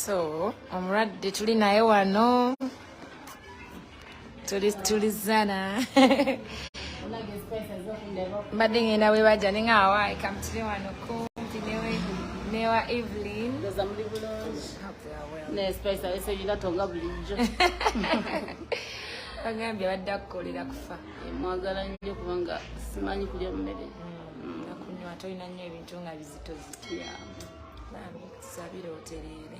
so omulwadde tuli naye wano tuli tulizana mbadde ngenda webaja ninga awaayi kamutire wano kumpi newe newa evelyn ndoza muli bulungi naye spice alese yina tonga bulijjo bagambye badde akukolera kufa eh, mwagala nnyo kubanga simanyi kulya mmere mm, nakunywa tolina nnyo ebintu nga bizito zitya sabira otereere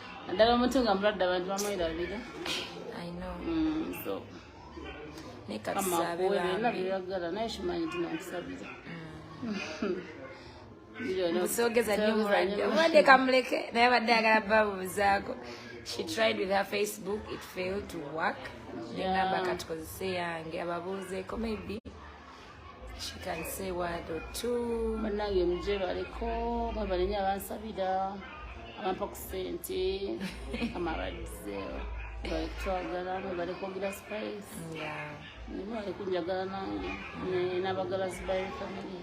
naddala omuntu nga mulwadde abantu bamwerabira mm, so amakuwerenabyoyagala naye kimanyi nti nankusabira kusogeza nyo mulwadde omulwadde kamuleke naye abadde agala babuuzaako she tried with her facebook it failed to work nengamba katukozese yange ababuuzeeko maybe She can say word or two. Banange mjero aliko baba lenye abansabira abampa ku sente amabadize bali kutwagala bali kwogera spice nibo bali kunjagala nange n'abagala zibayo family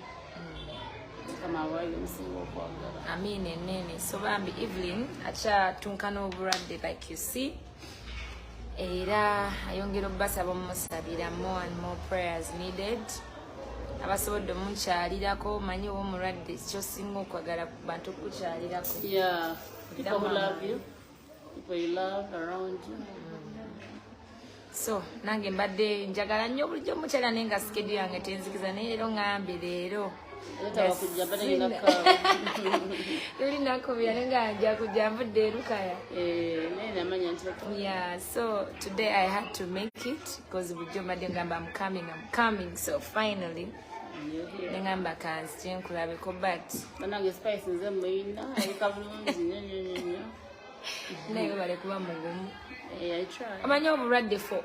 mukama awaayo omusinga okwagala amiina enene so bambi evelyn akyatunkana obulwadde like you see era ayongera okubasaba omusabira more and more prayers needed abasobodde omukyalirako manyi oba omulwadde kyosinga okwagala bantu okukukyalirako so nange mbadde njagala nnyo obulijjo omukyala naye nga sikedu yange tenzikiza naye leero ngambe leero luli nakubira nenga nja kujja nvudde erukaya yeah so today i had to make it because bujo mbadde ngamba am coming am coming so finally nengamba kanzi kyenkulabeko but banange spice nze muyina ayika bulungi nyonyonyonyo naye webale kuba mugumu eh, omanyi obulwadde fo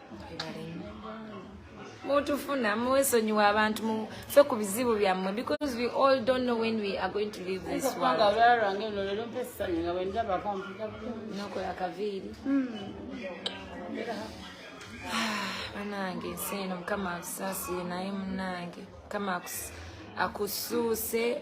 mutufuna mwesonyiwa abantu mufe ku bizibu byammwe because we all don't know when we are going to leave this worldnokola kaviiri hmm. banange ensi eno mukama akusaasire naye munange mukama akusuuse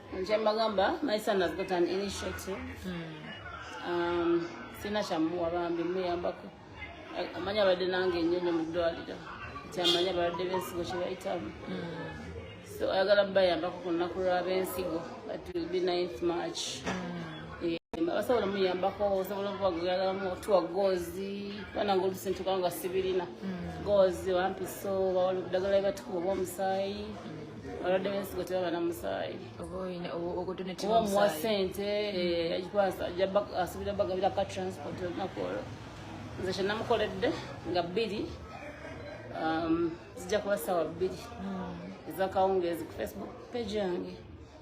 nje mbagamba my son has got an initiative hmm. um, sina kyamuwa bambi muyambako amanyi abadde nange enyonyo mu ddwaliro nti amanyi abalwadde b'ensigo kye bayitamu hmm. so ayagala bayambako ku lunaku lw'ab'ensigo but will be ninth march hmm. eh, basobola muyambako osobola okubagalamu otuwa goozi bananga olusintu kubanga sibirina goozi wampiso bawala obudagala bebatukuba obwomusaayi olwadde wensigo tebaba na musaayi oba omuwa sente asuubira bagabira ka transport olunaku olwo nze kyenamukoledde nga bbiri um, zijja kuba saawa bbiri hmm. ezakawungeezi ku facebook page yange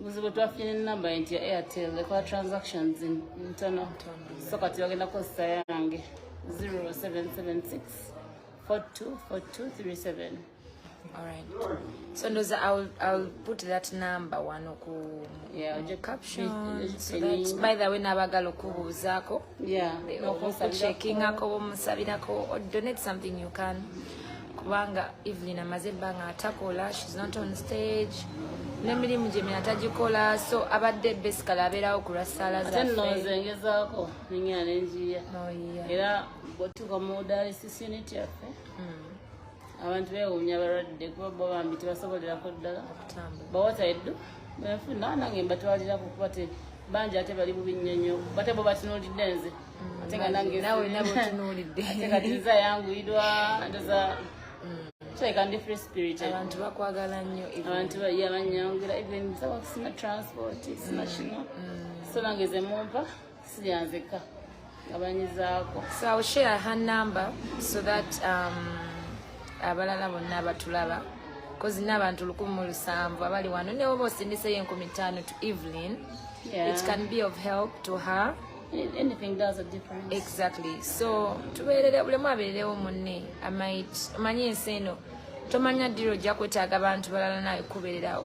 buzibu twafuna enamba nti ya airtel ekola transactions ntono so kati bagenda kukozesa yange 0776 424237 Alright. So Ndoza, I'll I'll put that number one oku yeah, the caption. So that, by the way, nabagalo kubuuzako. okuchekingako bomusabirako donate something you can kubanga evelyn amaze ebbanga atakola shes not on stage nemirimu gyemina tagikola so abadde besikala abeerawo ku lwa ssaala zaengezaako nengera nenjiya oh, era botuka mu dialysis unit yaffe mm. abantu bewuunya abalwadde kuba bo bambi tebasobolerako ddala bawataeddu benfuna nange mbatwalirako kuba te bangi ate bali bubi nnyo nnyo bate bo batunulidde nze mm, ate nga nange nawe nawe otunulidde ate kati nze ayanguyirwa ndoza kyeka ndi free spirit abantu bakwagala nnyo abantu bayabanyangira even sina transport sina mm, kino mm. so nange ze mumpa sibyanzeka abanyizaako so ill share her number so that um, abalala bonna batulaba kozi n'abantu lukumi mu lusanvu abali wano newe oba osindiseyo enkumi ttaano to evelyn yeah. it can be of help to her anything does a difference exactly so tubeerere bulemu abeererewo munne amait omanyi ensi eno tomanya ddiro ojja kwetaaga abantu balala nawe kubeererawo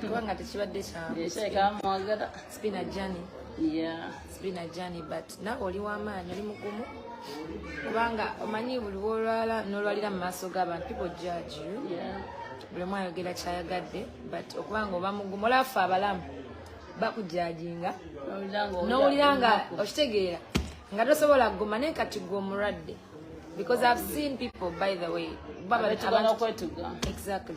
kubanga tekibadde kyamwagala spina jani spina jani but nawe oli wamaanyi oli mugumu kubanga omanyi buli wolwala nolwalira mu maaso g'abantu people judge you buli omu ayogera kyayagadde but okubanga oba mugumu olafa abalamu bakujajinga nowulira nga okitegeera nga tosobola kuguma naye kati gwe omulwadde because i've seen people by the way exactly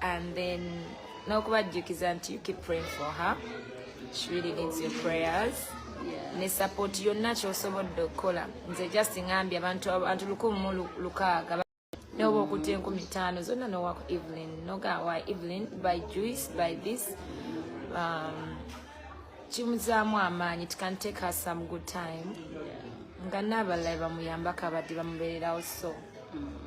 and then n'okubajjukiza nti you keep praying for her she really needs your prayers ne support yonna kyosobodde okukola nze just ngambye abantu abantu lukumi mu lukaaga noba okuta enkumi taano zonna nowako evelyn nogawa evelyn by juice by this um, kimuzaamu amaanyi it can take her some good time nga naabalala bamuyambako abadde bamubeererawo so mm.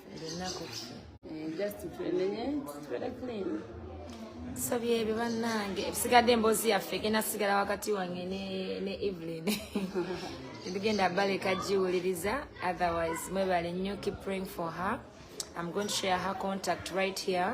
tusabye ebyo bannange ebisigadde emboozi yaffe egenda sigala wakati wange ne evelyn ebigenda baleka giwuliriza otherwise mwebale nnyo keep praying for her i'm going to share her contact right here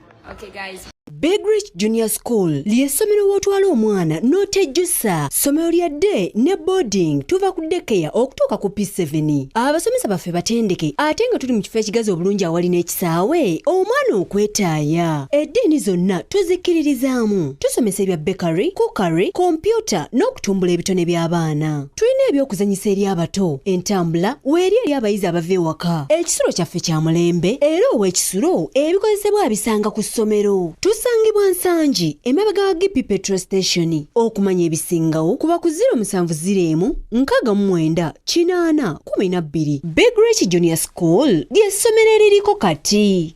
Okay guys. Big Rich Junior School ly'essomero w'otwala omwana n'otejjusa ssomero lya day ne boarding tuva ku dekeya okutuuka ku P7 abasomesa baffe batendeke ate nga tuli mu kifo ekigazi obulungi awali n'ekisaawe omwana okwetaaya eddiini zonna tuzikkiririzaamu tusomesa ebya bakery cookery kompyuta n'okutumbula ebitone by'abaana tulina ebyokuzanyisa eri abato entambula weeri eri abayizi abava ewaka ekisulo kyaffe kya mulembe era ow'ekisulo ebikozesebwa abisanga ku ssomero tusangibwa nsangi emabega wa gp petro station okumanya ebisingawo kuba ku 0707499412 big rich junior school ly'essomero eririko kati